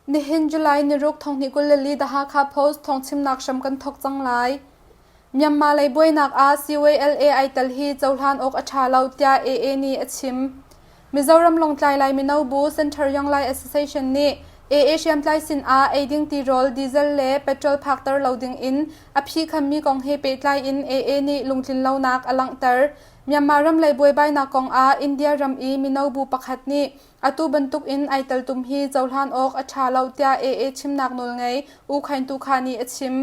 Nihin July ni ruk thonghnih kul le li The Hakha Post thawngchimnak hram kan thawk cang lai. Myanmar lei buainak ah CYLA ai tel hi cohlan awk a ṭha lo tiah AA nih a chim. Mizoram Lawngtlai Lai Mino Bu Center Young Lai Association nih AA hriamtlai sin ah ei ding tirawl diesel le petrol phakter lo ding in a phi khammi kong he pehtlai in AA nih lungtlin lonak a langhter. Myanmar ramlei buaibainak kongah India ram i mino bu pakhat nih atu bantukin ai teltum hi cohlan awk a ṭha lo tiah AA chimnak nawl ngei U Khain Tu Kha nih a chim.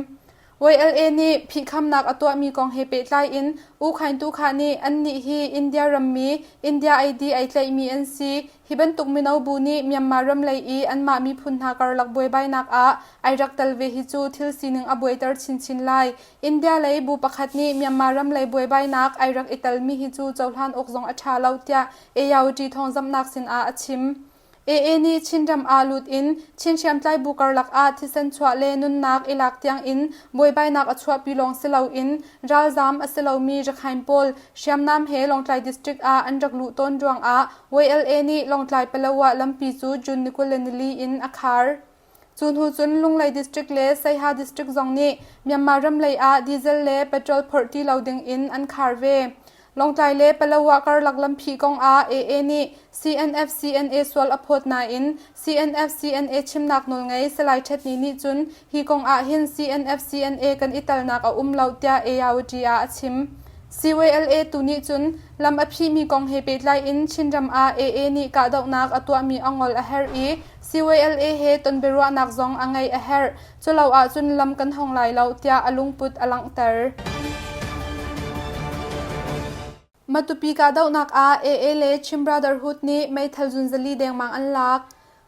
YLA nih phihkhamnak a tuahmi kong he pehtlai in U Khain Tu Kha nih annih hi India rammi, India ID ai tlaihmi an si, Hi bantuk mino bu nih Myanmar ram lei i anmah miphun hna karlak buaibainak ah ai rak tel ve hi cu thil sining a buaiter chinchin lai. India lei bu pakhat nih Myanmar ram lei buaibainak ai rak i telmi hi cu cohlan awk zong a ṭha lo tiah AYUT thawngzamhnak sinah a chim. AA nih Chinram ah lut in Chin hriamtlai bu karlak ah thisen chuah le nunnak i lak tiangin buaibainak a chuahpi lawng si loin ralzam a si lomi rakhain pawl hriamnam he Lawngtlai district ah an rak luh tawn ruangah YLA nih Lawngtlai Palawan lampi cu June ni kul le nili in a khar. Cu hnu cun Lunglei District le Saiha District zong nih Myanmar ram lei ah diesel le petrol phorh ti lo ding in an khar ve. Lawngtlai le Palawan karlak lampi kong ah AA nih CNF CNA sual a phawt nain CNFCNA chimnak nawl ngei Salai Htet Ni nih cun hi kong ah hin CNFCNA kan i telnak a um lo tiah ARUT ah a chim. CYLA tu nih cun lam a phihmi kong he pehtlai in Chinram ah AA nih kahdohnak a tuahmi ongol a herh i CYLA he tonbiaruahnak zong a ngeih a herh. Culo ah cun lam kan hong lai lo tiah a lungput a langhter. Matupi kahdohnak ah AA le Chin Brotherhood nih meithal zunzali dengmang an lak.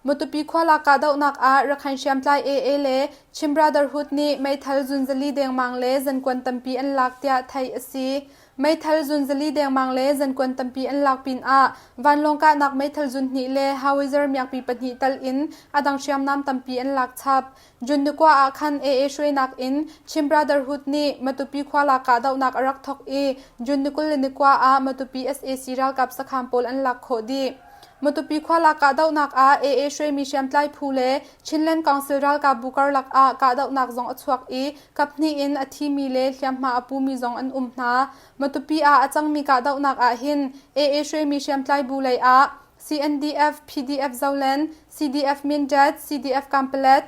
Matupi khualak kahdohnak ah Rakhain hriamtlai AA le Chin Brotherhood nih meithal zunzali dengmang le zankuan tampi an lak tiah theih a si. Meithal zunzali dengmang le zankuan tampi an lak pinah vanlawng kahnak meithal zun hnih le Hawizar miakpi pahnih tal in a dang hriamnam tampi an lak chap. Junnakua ah khan AA hruainak in Chin Brotherhood nih Matupi khua lak kahdohnak a rak thawk i June ni kul le ni kua ah Matupi sac ralkap sakhaan pawl an lak khawh dih. Matupi khua lak kahdohnak ah AA hruaimi hriamtlai phu le Chinland Council ralkapbu karlak ah kahdohnak zong a chuak i kaphnih in a thimi le hliamhma a pumi zong an um hna. Matupi ah a cangmi kahdohnak ahhin AA hruaimi hriamtlai bu lei ah CNDF-PDF Zoland, CDF-Mindat, CDF-Kampala,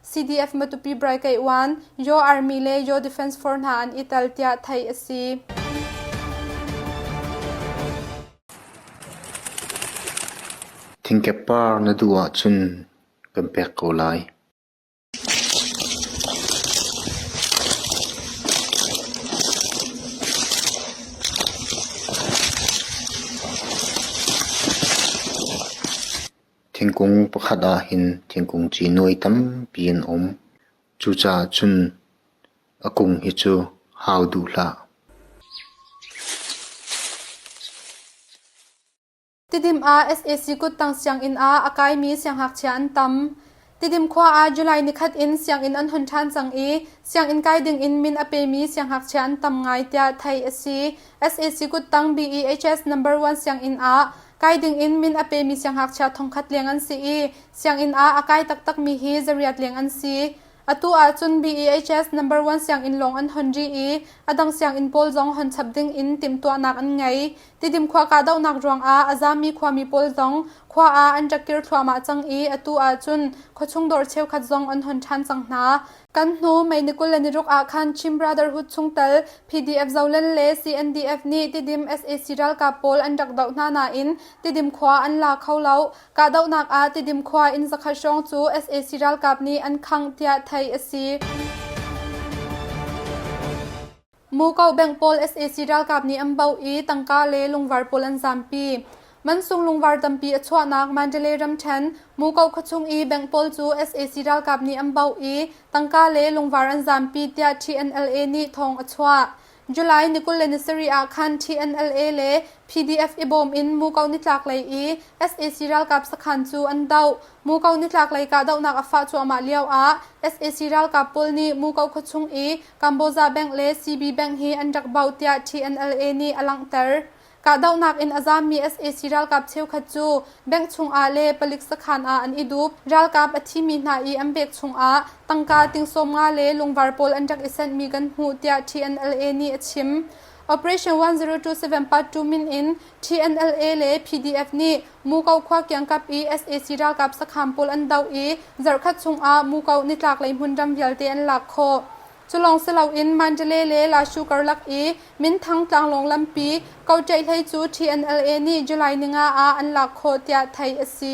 CDF-Matupi-Braikaiwan, Yaw Army le Yaw Defense Force hna an i tel tiah theih a si. Thingkep par na duh ahcun kan pek ko lai. Thingkung pakhat ahhin thingkung ci nuai tampi an um. Cucaah cun a kung hi cu hau duh hlah. Tidim ah sac kuttang sianginn ah a kaimi sianghngakchia an tam. Tidim khua ah July ni khat in sianginn an hun ṭhan cang i sianginn kai ding in min a pemi sianghngakchia an tam ngai tiah theih a si. sac kuttang BEHS number one sianginn ah kai ding in min a pemi sianghngakchia thongkhat leng an si i sianginn ah a kai taktakmi hi zariat leng an si. Atu ahcun BEHS number one sianginn lawng an hon ri i a dang sianginn pawl zong hon chap ding in timhtuahnak an ngei. Tidim khua kahdohnak ruangah a zaammi khuami pawl zong khua ah an rak kir thluahmah cang i atu ahcun khuachung dawr cheukhat zong an hon ṭhan cang hna. Kan hnu May ni kul le ni ruk ahkhan Chin Brotherhood chungtel PDF Zolen le CNDF nih Tidim sac ralkap pawl an rak doh hna nain Tidim khua an la kho lo. Kahdohnak ah Tidim khua inn zakhat hrawng cu sac ralkap nih an khangh tiah theih a si. Muko bank pawl sac ralkap nih an baoh i tangka le lungvar pawl an zampi. Mansung lungvar tampi a chuahnak Mandalay ramṭhen Muko khuachung i bank pawl cu sac ralkap nih an baoh i tangka le lungvar an zampi tiah TNLA nih thawng a chuah. July ni kul le ni sarih ah khan TNLA le PDF i bawm in Muko nitlaklei i sac ralkap sakhan cu an doh. Muko nitlaklei kahdohnak a fah cuahmah lioah sac ralkap pawl nih Muko khuachung i Kamboja bank le CB bank hi an rak bauh tiah TNLA nih a langhter. Kahdohnak in a zaammi sac ralkap cheukhat cu bank chungah le palik sakhan ah an i dup. Ralkap a thimi hna i an bek chungah tangka tingsawm nga le lungvar pawl an rak i senhmi kan hmuh tiah TNLA nih a chim. Operation 1027 part 2 min in TNLA le PDF nih Muko khua kiangkap i sac ralkap sakham pawl an doh i zarhkhat chungah Muko nitlaklei hmunram vialte an lak khawh. Cu lawng si loin Mandalay le Lashu karlak i Minthang tlanglawng lampi Kotaehlei cu TNLA nih July ninga ah an lak khawh tiah theih a si.